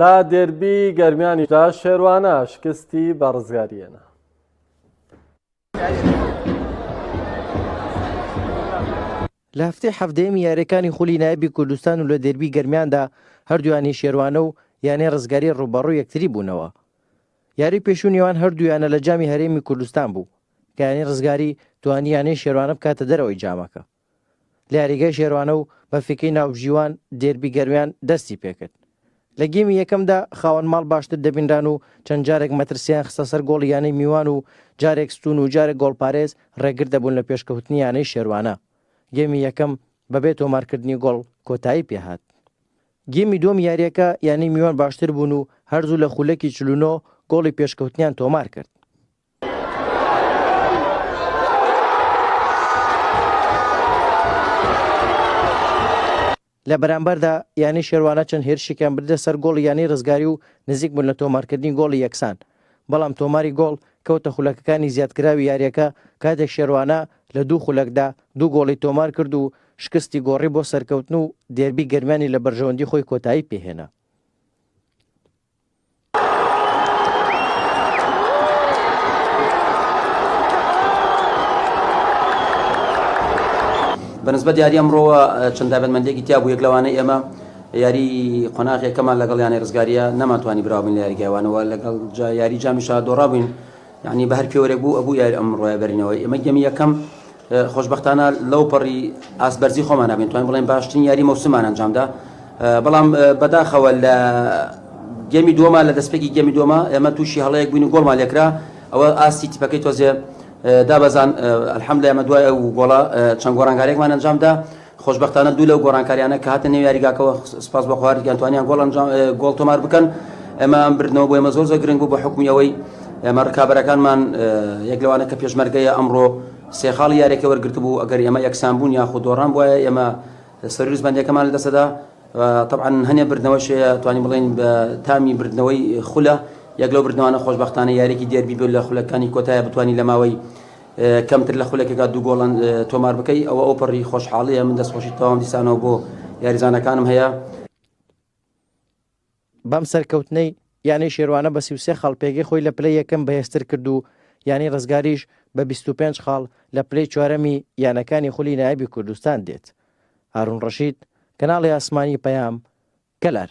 لە دێربی گەرمیانیشدا شێروانە شکستی بە ڕزگاریێنە. لە هەفتەی حەفتەیەمی یاریەکانی خولی نایبی کوردستان و لە دەربی گەرمیاندا هەردویانی شێروانە و یانەی ڕزگاری ڕوبەڕوو یەکتری بوونەوە یاری پێشوو نێوان هەردوویانە لە جامی هەرێمی کوردستان بوو کەیانی ڕزگاری توانی یانەی شێروانە بکاتە دەرەوەی جامەکە لە یاریگای شێروانە و بەفیکەی ناوبژیوان دێربی گەرویان دەستی پێکرد. لە گێمی یەکەمدا خاوەن ماڵ باشتر دەبینران و چەند جارێک مەترسییان خستە سەر گۆڵی یانەی میوان و جارێک ستوون و جارێک گۆڵپارێز ڕێگر دەبوون لە پێشکەوتنی یانەی شێروانە. گێمی یەکەم بەبێ تۆمارکردنی گۆڵ کۆتایی پێهات. گێمی دووەم یارییەکە یانەی میوان باشتر بوون و هەر زوو لە خوولەکی چل و نۆ گۆڵی پێشکەوتنیان تۆمار کرد. لە بەرامبەردا یانەی شێروانە چەند هێرشێکیان بردە سەر گۆڵی یانەی رزگاری و نزیک بوون لە تۆمارکردنی گۆڵی یەکسان، بەڵام تۆماری گۆڵ کەوتە خولەکەکانی زیادکراوی یارییەکە، کاتێک شێروانە لە دوو خولەکدا دوو گۆڵی تۆمارکرد و شکستی گۆڕی بۆ سەرکەوتن و دێربی گەرمیانی لە بەرژەوەندی خۆی کۆتایی پێهێنا. بەنسبەت یاری ئەمڕۆوە چەند دابەتمەندێکی تیا بوو یەک لەوانە ئێمە یاری قۆناغێکەمان لەگەڵ یانە ڕزگاریە نەمانتوانی براوین لە یاریگەوانەوە لەگەڵ یاری جامی شار دۆڕابووین یانی بە هەر پێوەرێک بوو ئەبوو یاری ئەم ڕۆیە بەرینەوە ئێمە گەمی یەکەم خۆشببختانە لەو پەڕی ئاسبەرزی خۆمان نابێن توانین بڵێن باشترین یاری مەوسمان ئەنجامدا بەڵام بەداخەوە لە گەمی دووەما لە دەستپێکی گەمی دووەما ئێمە تووشی هەڵەیەک بووین و گۆڵمان لێکرا ئەوە ئاستی تیپەکەی تۆزێ دابەزان ئەلحەمدە ئێمە دوای ئەو گۆڵە چەند گۆڕانگارێکمان ئەنجامدا خۆشبەختانە دوو لەو گۆڕانکارییانە کە هاتنە نێو یاریگاکەوە سوپاس بۆ خوا هەردووکیان توانیان گۆڵ ئەنجام گۆڵ تۆمار بکەن ئەمە ئەم بردنەوە بۆ ئێمە زۆر زۆر گرنگ بوو بە حکومی ئەوەی ئێمە ڕکابەرەکانمان یەک لەوانە کە پێشمەرگەیە ئەمڕۆ سێ خاڵی یارێکی وەرگرتبوو ئەگەر ئێمە یەکسان بوون یاخود دۆڕان بواە ئێمە سەرویس بەندەکەمان لە دەسەدا طبعا هەنێ بردنەوەش توانی بڵین بە تامی بردنەوەی خولە یەک لەو بردنەوانە خۆشببختانە یارێکی دێربی بێت لە خولەکانی کۆتایە بتانی لە ماوەی کەمتر لە خولەکێکا دوو گۆڵ تۆمار بکەی ئەوە ئەو پەڕی خۆشحاڵیە من دەستخۆشی تەواوم دیسانەوە بۆ یاریزانەکانم هەیە. بەم سەرکەوتنەی یانەی شێروانە بە سی و سێ خاڵ پێگەی خۆی لە پلەی یەکەم بەهێزتر کرد و یانەی ڕزگاریش بە بیست و پێنج خاڵ لە پلەی چوارەمی یانەکانی خولی نایابی کوردستان دێت. هارون ڕەشید، کەناڵی ئاسمانی پەیام، کەلار.